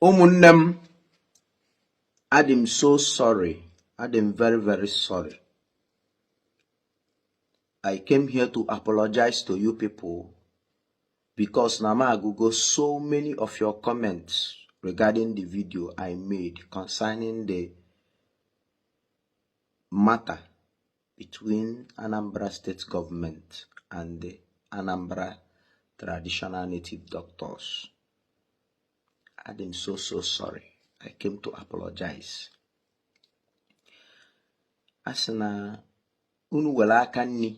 ụmụnne m adị m so sorry adị m very very sorry i came here to apologize to you people because na m agụgo so many of your comments regarding the video i made concerning the matter between Anambra State Government and the Anambra Traditional Native Doctors. adị m so so sorry i came to apologize a sị na unu wele aka nni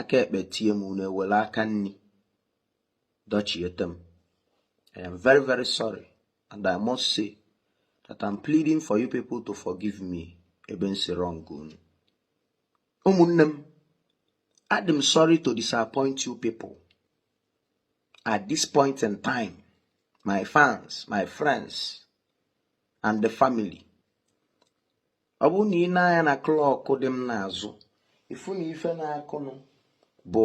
aka ekpe tie m unu ewele aka nni dọchiete m I am very very sorry and I must say that I'm pleading for you people to forgive me ebe m si wrong unu ụmụnne m adị m sorry to disappoint you people at this point in time my fans my friends and the family ọ bụrụ na i nee anya na klọkụ dị m n'azụ ị fụ na ife na-akụnụ bụ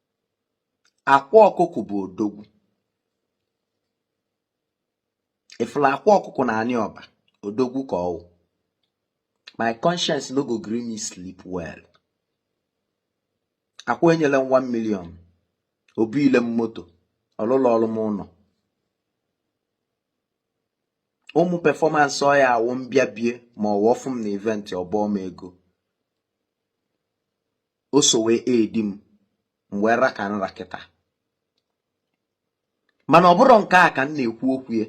akwa ọkụkọ bụ odogwu ị fụla akwa ọkụkọ na anị ọba odogwu ka ọ wụ my conscience no go gree me sleep well akwa enyela m 1 million o bunye m moto ọ lụrọọlụ m ụnọ ụmụ performance ọ ya awụ m bịa bie ma ọ wụ ọ fụ m na event ọ bọọ m ego o so wee edi m m wee ra ka nra kịta mana ọ bụrọ nke a ka m na-ekwu okwu ya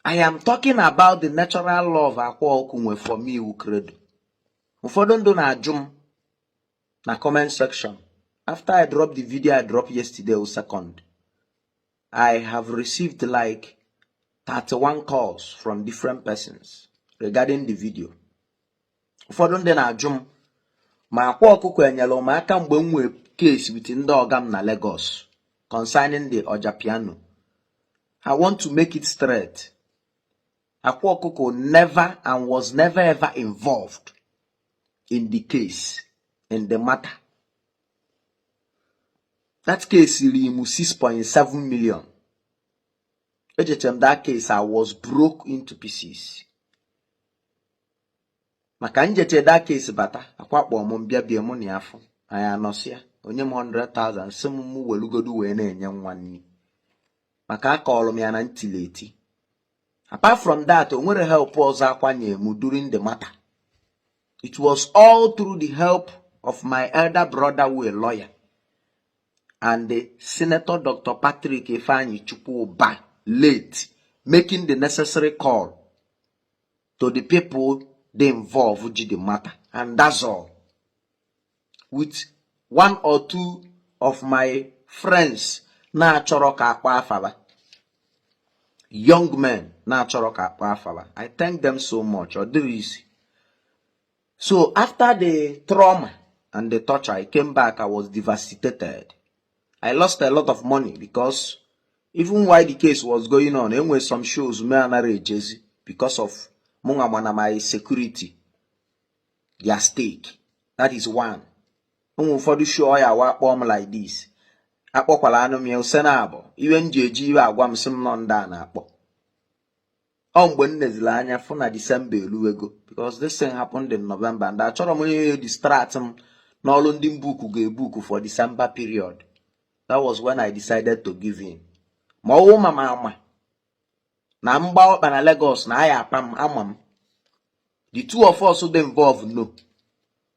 I am talking about the natural love akwa ọkụkọ nwe for me iwu credo ụfọdụ ndị na-ajụ m na comment section after I drop the video I drop yesterday o second I have received like 31 calls from different persons regarding the video ụfọdụ ndị na-ajụ m ma akwa ọkụkọ enyela m aka mgbe m nwee case with ndị ọga m na Lagos concerning the ọja piano I want to make it straight akwa ọkụkọ never and was never ever involved in the case in the matter that case riri m 6.7 million ejeche m that case I was broke into pieces maka m jeche that case bata akwa kpọọ m m bịa bie mụ na ya afụ anyị anọsịa o nye m 100,000 sị m mụ welugodu wee na-enye nwa nni maka akọọlụ m ya na m tili eti apart from that o nwerọ help ọzọ akwa nye m during the matter it was all through the help of my elder brother wụ lawyer and the senator dr patrick ifeanyichukwu ubah late making the necessary call to the people dey involved ji the matter and that's all with one or two of my friends na-achọrọ ka a kpaa afa fa young men na-achọrọ ka a kpaa afa fa i thank them so much ọ dịrị easy so after the trauma and the torture i came back i was devastated i lost a lot of money because even while the case was going on enwere some shows m anara ejezi because of mụnwa ma na my security dị at stake that is one o nwe ụfọdụ show ọ ya-awụ a kpọọ m like this akpọkwala anụ m ya ose na abụ iwe m ji eji iwe agwa m sị m nọ ndị a na-akpọ ọ mgbe m nezili anya fụ na december eluwego because this thing happened in november and achọrọ m ihe distract m n'ọlụ ndị mbuku ga-ebuku for december period that was when i decided to give in ma ọwụ ma ma ama na m gba ọkpa na Lagos na aya apa m ama m the two of us dị involved no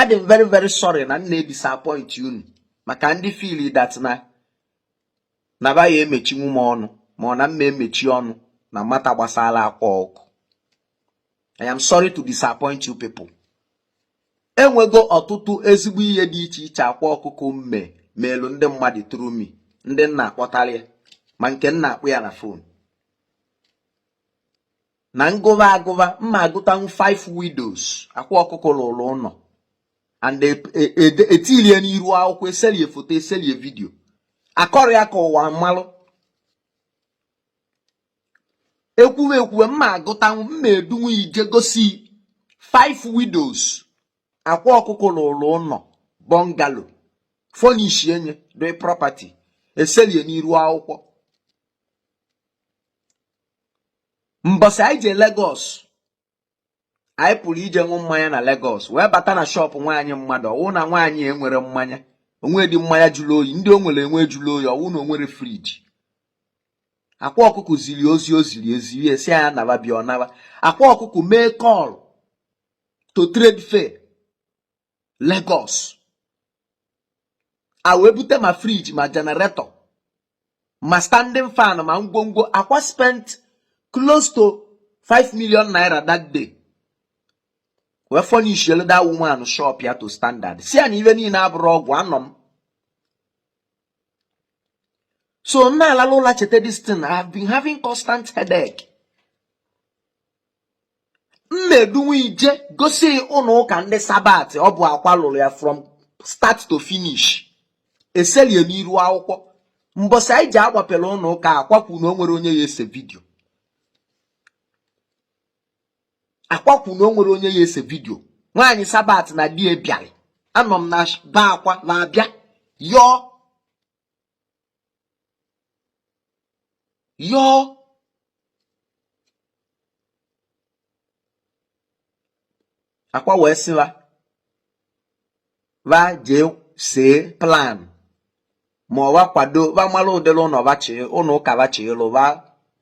adị m very very sorry na m na-edisappoint unu maka ndị feel that na na ba ya emechinwu m ọnụ ma ọ na m ma-emechi ọnụ na matter gbasara akwa ọkụ I am sorry to disappoint you people enwego ọtụtụ ezigbo ihe dị iche iche akwa ọkụkọ mme meelu ndị mmadụ through me ndị m na-akpọtara ya ma nke m na-akpọ ya na phone na m gụba agụba m ma-agụtanwu five widows akwa ọkụkọ lụlụ ụnọ and etilie e, e, e n'iru akwụkwọ eselie foto eselie vidio akọrọ ya ka ụwa malụ ekwuwe ekwuwe m ma-agụtanwu m ma-edunwu ije gosi five widows akwa ọkụkọ lụlụ ụnọ bungalow furnish enye dị property eselie n'iru akwụkwọ mbọsị anyị je Lagos anyị pụrụ ije ṅụ mmanya na Lagos wee bata na shop nwaanyị mmadụ ọwụ na nwaanyị enwere mmanya o nwedị mmanya jụrụ oyi ndị o nwere enwe jụrụ oyi ọwụ na o nwere fridge akwa ọkụkọ ziri ozi o ziri eziri sị ya naba bịa ọ naba akwa ọkụkọ mee call to trade fair Lagos a wee bute ma fridge ma generator ma standing fan ma ngwongwo akwa spent close to 5 million naira that day wee furnishelu that woman shop ya to standard sị ya na ife niine abụrọ ọgwụ anọ m so m na-alala ụla cheta this thing I have been having constant headache m edunwu ị jee gosi ị ụnọ ụka ndị sabat ọ bụ akwa lụrụ ya from start to finish eselie n'iru akwụkwọ mbọsị anyị ji agbapele ụnọ ụka akwa kwu na o nwerọ onye ya-ese video akwa kwu na o nwerọ onye ya-ese video nwaanyị sabat na di e bịalị anọ m na be akwa na-abịa yọọ yọọ akwa wee sị va va jee see plan ma ọ va kwado va malụ ụdịrị ụnọ va chọ ụnọ ụka va chọ ịlụ va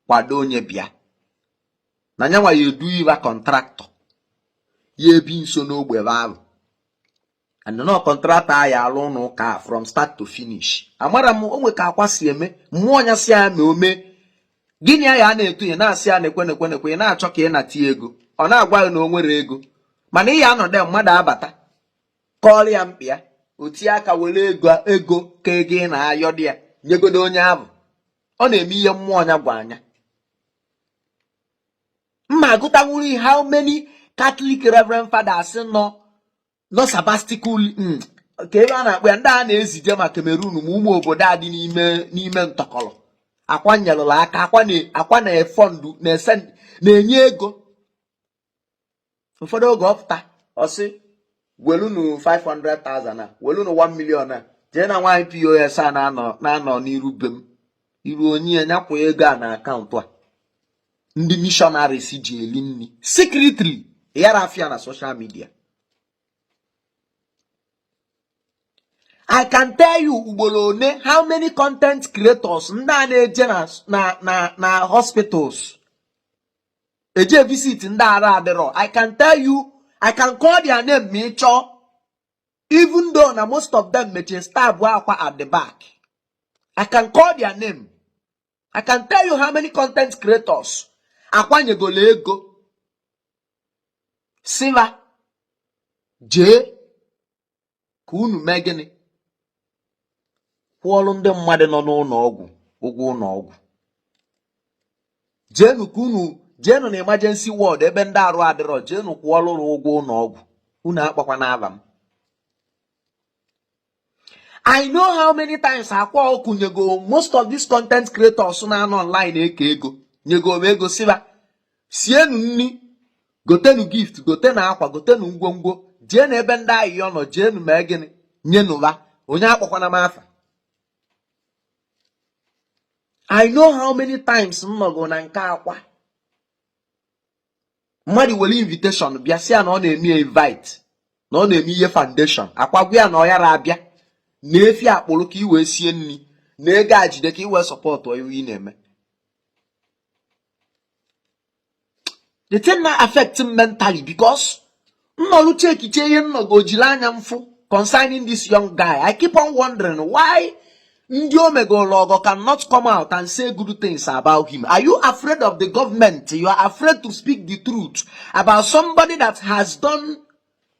kwado onye bịa na nyanwa ya-edunye va contractor ya ebi nso n'ogbe va alụ and na ọ contractor ya alụ ụnọ ụka from start to finish amarọ m o nwe ka akwa si eme mmụọ ya sị ya na o mee gịnị ya ya na-etu ya na-asị ya nekwe nekwe nekwe ya na-achọ ka ị nata ya ego ọ na-agwa gị na o nwerọ ego mana ị ya anọdụ mmadụ abata kọọrọ ya mkpa ya o tie aka were ego ego ka ego ị na-ayọdụ ya nyegodo onye ahụ ọ na-eme ihe mmụọ ya gwa nya m ma agụtanwuru how many Catholic Reverend Fathers nọ nọ sabbatical mm, ka ebe a na-akpọ ya ndị a na-ezije ma Cameroon ma ụmụ obodo a dị n'ime n'ime ntọkọrọ akwa nyelụrụ aka akwa na- akwa na-efund na-ese na-enye ego ụfọdụ oge ọ pụta ọ sị welunu 500,000 a welunu 1 million a jee na nwaanyị POS a na-anọ na-anọ n'iru be m i ruo nye ya nya kwụọ ego a na account a ndị missionaries ji eli nri secretly yarọ appear na social media I can tell you ugboro one how many content creators ndị a na-eje na na na hospitals eje visit ndị arụ adịrọ I can tell you I can call their name ma ị chọọ even though na most of them mechie stab akwa at the back I can call their name I can tell you how many content creators akwa nyegolu ego sị va jee ka unu mee gịnị kwụọlụ ndị mmadụ nọ n'ụnọ ọgwụ ụgwọ ụnọ ọgwụ jeenu ka unu jeenu na emergency ward ebe ndị arụ adịrọ jeenu kwụọlụrụ ụgwọ ụnọ ọgwụ unu akpọkwana afa m I know how many times akwa ọkụkọ nyego most of these content creators na-anọ online eke ego nyego ego sị va sienu nri gotenu gift gotenu akwa gotenu ngwongwo jeenu ebe ndị ayịyọ nọ jeenu mee gịnị nyenụ va onye akpọkwana m afa I know how many times m nọgo na nke akwa mmadụ were invitation bịa sị ya na ọ na-eme invite na ọ na-eme ihe foundation Akwa gwa ya na ọ yara abịa nee efi a kpụrụ ka ị wee sie nri nee ego a jide ka ị wee support ihe ị na-eme the thing na-affect m mentally because nnọrụ chekiche ihe nnọgo jiri anya m fụ concerning this young guy i keep on wondering why ndị o megoro ọgọ cannot come out and say good things about him are you afraid of the government you are afraid to speak the truth about somebody that has done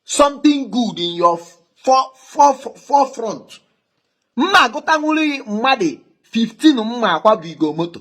something good in your for, for, for, forefront mma agụtanwuri mmadụ 15 mma akwabigo moto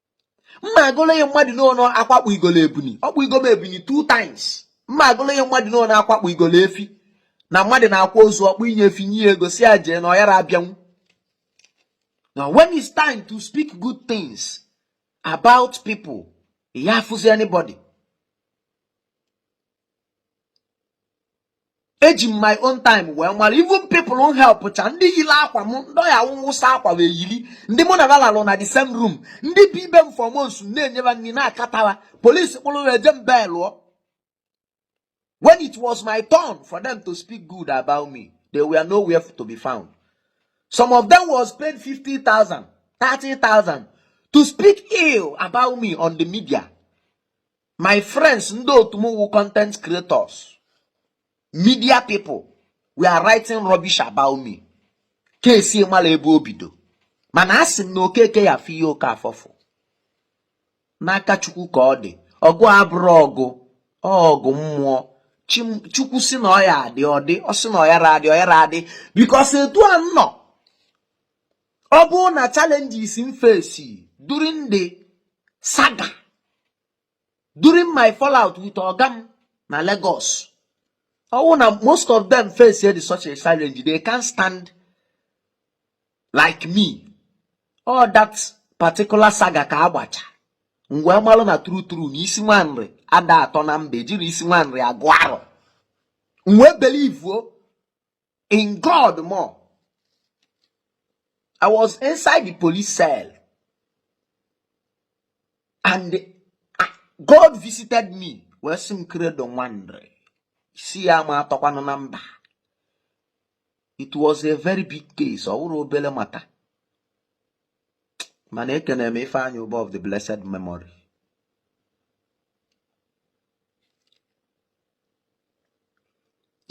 m ma agụlụ ihe mmadụ n'ọnụ Akwa kpụnyegolu ebuni ọ kpụnyego m ebuni two times m ma agụlụ ihe mmadụ n'ọnụ Akwa kpụnyegolu efi na mmadụ na-akwa ozu ọ kpụnye efi nye ego sị ya jee na ọ yara abịanwu na when it's time to speak good things about people ị ya afụzi anybody eji m my own time wee mara even people m help cha ndị yiri akwa m ndị ọ ya-awụ m wụsa akwa wee yiri ndị mụ na ba lalụ na the same room ndị bi be m for months na-enye ba nri na-akatawa police kpụrụ wee je m bailụọ when it was my turn for them to speak good about me they were nowhere to be found some of them was paid 50,000 30,000 to speak ill about me on the media my friends ndị otu m wụ content creators media people were writing rubbish about me kesi mara ebe o bido mana a sị m na Okeke ya-afụ ihe Okafọ fụ n'aka chukwu ka ọ dị ọgụ abụrụ ọgụ ọgụ mmụọ chukwu sị na ọ ya-adị ọ dị ọ sị na ọ yara adị ọ yara adị because etu a m nọ ọ bụrụ na challenges m face during the saga during my fallout with oga m na Lagos ọwụ na most of them face the such a challenge they can't stand like me all that particular saga ka a gbacha m wee malụ na true true na isi nwa Nri ada atọ na mba ejiri isi nwa Nri agụ arọ m wee believe in God more. I was inside the police cell and uh, God visited me wee sị m Credo nwa Nri isi ya ma atọkwanụ na mba it was a very big case ọ wụrọ obere matter mana ekene m Ifeanyi Ubah of the blessed memory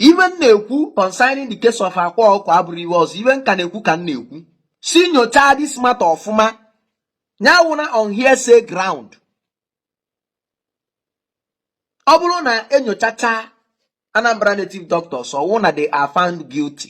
ihe m na-ekwu concerning the case of Akwa Ọkụkọ abụrọ ihe ọzọ ihe m ka na-ekwu ka m na-ekwu sị nyochaa this matter ọfụma ya awụna on hearsay ground ọ bụrụ na e nyochacha Anambra native doctors ọwụ na they are found guilty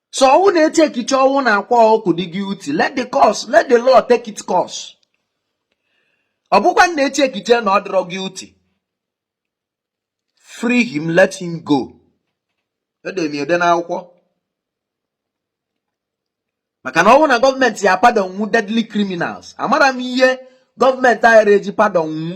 so ọ wụ na e checkiche ọ wụ na Akwa Ọkụ dị guilty let the course let the law take its course ọ bụkwanụ na e checkiche na ọ dịrọ guilty free him let him go edemiede n'akwụkwọ maka na ọ wụ na gọọmenti ya pardon nwu deadly criminals amara m ihe gọọmenti ara eji pardon nwu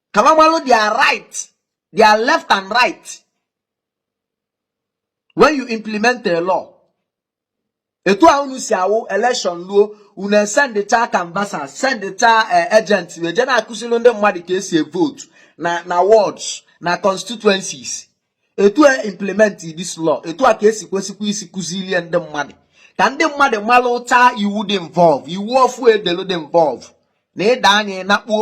ka ha malụ their right their left and right when you implement a law etu a unu si awụ election luo unu esendịcha canvasser sendịcha eh, agent eje na-akụziri ndị mmadụ ka esi vote na na wards na constituencies etu a implement this law etu a ka esi kwesịkwa isi kụzilie ndị mmadụ ka ndị mmadụ malụcha iwu dị involve iwu ọfụụ edelu dị involve na ịda anya ịnakpuo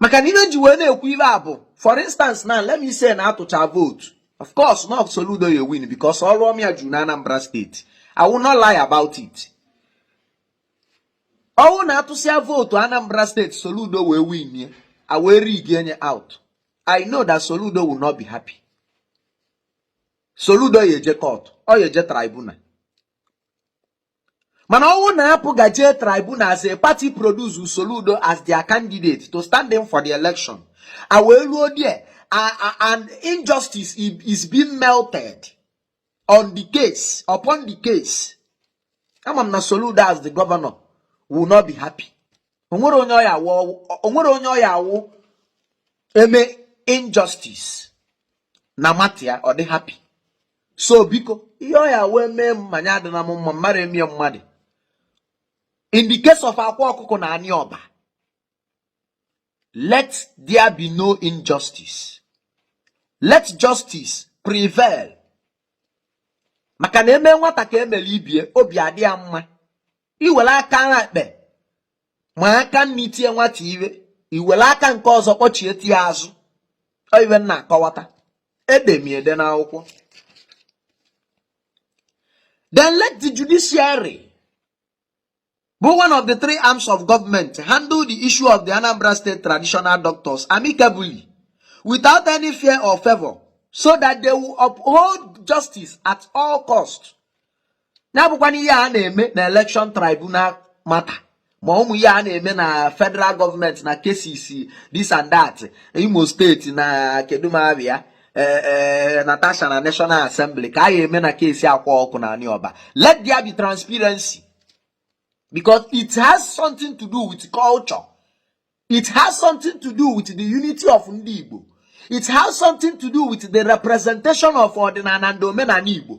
maka na ihe e ji wee na-ekwu ihe a bụ for instance now let me say na a tụcha vootu of course na Soludo ya win because ọrụ ọma ya juru na Anambra steeti I will not lie about it ọ wụ na a tụsịa vootu Anambra steeti Soludo wee win ya e wee rigie ya out I know that Soludo will not be happy Soludo ya eje court ọ ya eje tribunal mana ọ wụ na APGA jee tribunal as a party produce Soludo as their candidate to stand in for the election a wee ruo there and injustice is being melted on the case upon the case ama m na Soludo as the governor will not be happy o nwere onye ọ ya-awụ e mee injustice na matter ya ọ dị happy so biko ihe ọ ya wee mee m ma nya adịna m mma m ara emie mmadụ in the case of Akwa Ọkụkọ na anị Ọba let there be no injustice let justice prevail maka na e mee nwata ka e melu ibie obi adị ya mma i were aka ekpe ma aka nni tie nwata ihe i were aka nke ọzọ kpọchiete ya azụ ọ ihe m na-akọwata edemiede n'akwụkwọ then let the judiciary bụ one of the three arms of government handle the issue of the Anambra State traditional doctors amicably without any fear or favour so that they will uphold justice at all cost na-abụkwana ihe a na-eme na election tribunal matter ma ụmụ ihe a na-eme na federal government na cases this and that imo state na kedu ma ava ya eh, eh, natasha na national assembly ka a ya eme na case akwa ọkụ na anị ọba let there be transparency because it has something to do with culture it has something to do with the unity of ndị igbo it has something to do with the representation of ọdịnala and omenala igbo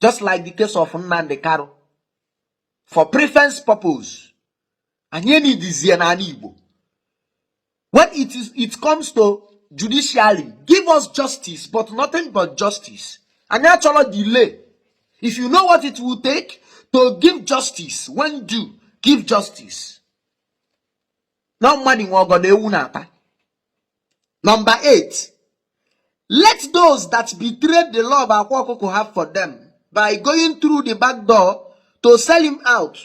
just like the case of Nnamdi Kanu for preference purpose anyị enidizie n'ala Igbo when it is it comes to judiciary give us justice but nothing but justice anyị achọrọ delay if you know what it will take to give justice when due give justice na mmadụ nwe ọgọdọ ewu na-ata number 8 let those that betrayed the love akwa ọkụkọ have for them by going through the back door to sell him out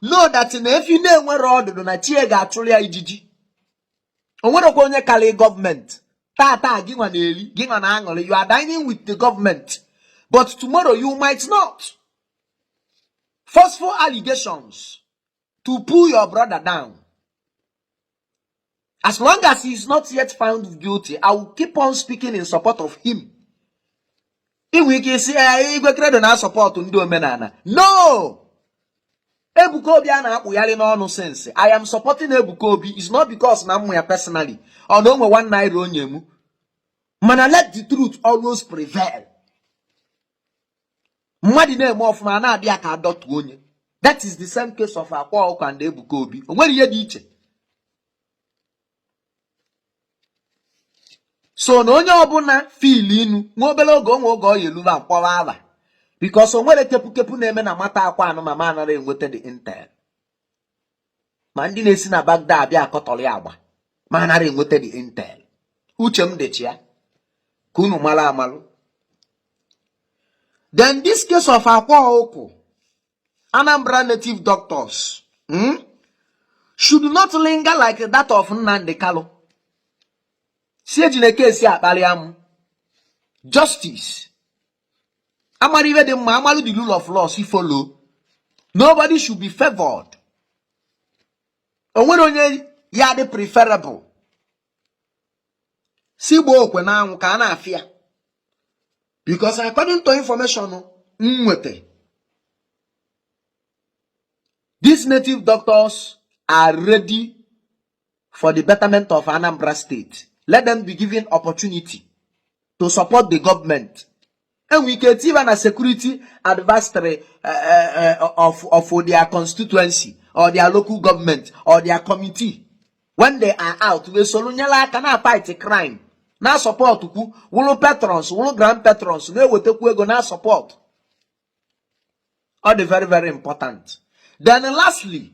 know that na efi na-enwere ọdụdụ na chi ya ga-achụrụ ya ijiji o nwerekwa onye karị government tata gị nwa na-eri gị nwa na-aṅụrị you are dining with the government but tomorrow you might not forceful allegations to pull your brother down as long as he is not yet found guilty i will keep on speaking in support of him i nwe ike ịsị eh, igwe credo na-asupport ndị omenala no ebuka obi a na-akpụgharị n'ọnụ since i am supporting ebuka obi is not because na m ma ya personally or na o nwe one naira o nye mu mana let the truth always prevail mmadụ na-eme ọfụma a na-abịa ka a dọtuo onye that is the same case of akwa ọkụ and ebuka obi o nwere ihe dị iche so na onye ọbụla fil inu nwa obere oge o nwe oge ọ ya eluba mkpọrọ ala because o nwere kepukepu na-eme na matter akwa anụ ma ma anara enweta the intel ma ndị na-esi na back door abịa akọtọrọ ya agba ma anara enweta the intel uche m dịcha ya ka unu mara amalụ then this case of akwa ọkụ Anambra native doctors hmm, should not linger like that of Nnamdi Kanu sị ejina case a kparịa m justice a mara ihe dị mma a marụ the rule of law sị follow nobody should be favored o nwere onye ya-adị preferable sị gbaa okwu a n'anwụ ka a na-afụ ya because according to information m nweta these native doctors are ready for the betterment of Anambra State let them be given opportunity to support the government e nwe ike etiva na security advisory eh, eh, eh, of of their constituency or their local government or their committee when they are out wee soro nyere aka na-afight crime na-asupport kwu wụrụ patrons wụrụ grand patrons na-ewetakwu ego na support ọ dị very very important then lastly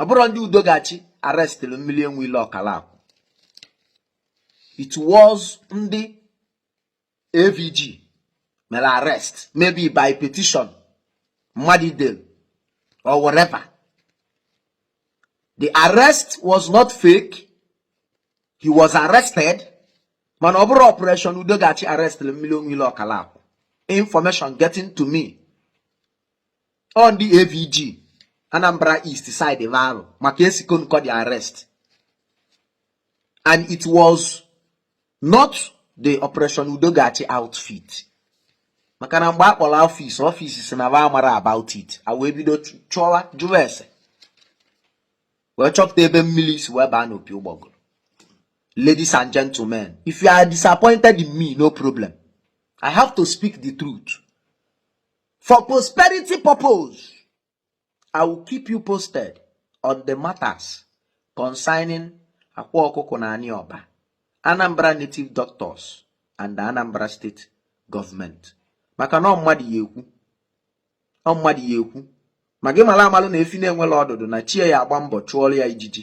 ọ bụrọ ndị udo ga-achị arrestịlị mmili enwe ilo ọkalakwu it was ndị avg mere arrest maybe by petition mmadụ delụ or whatever the arrest was not fake he was arrested mana ọ bụrọ operation udo ga-achị arrestịlị mmili enwe ilo ọkalakwu information getting to me ọ ndị avg anambra east side ebe ahụ maka esikon kọ the arrest and it was not the operation udo ga-achị outfit maka na mgbe a kpọrọ ọfịs ọfịs sị na ba amarọ about it a wee bido chọwa jụwa ese wee chọpụta ebe mmili si wee baa n'opi ụgbọgụrụ ladies and gentlemen if you are disappointed in me no problem i have to speak the truth for prosperity purpose i will keep you posted on the matters concerning akwa ọkụkọ na anị ọba anambra native doctors and the anambra state government maka na ọ mmadụ ya-ekwu ma gị malụ amalụ na efi na-enwerọ ọdụdụ na chi ya agba mbọ chụọrọ ya ijiji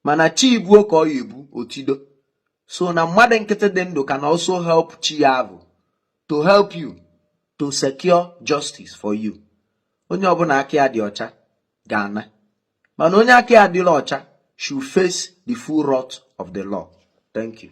mana chi ibuo ka ọ ya ebu otido so na mmadụ nkịtị dị ndụ can also help chi ya avụ to help you to secure justice for you onye ọbụla aka ya dị ọcha ga-ana mana onye aka ya adịrọ ọcha should face the full wrath of the law thank you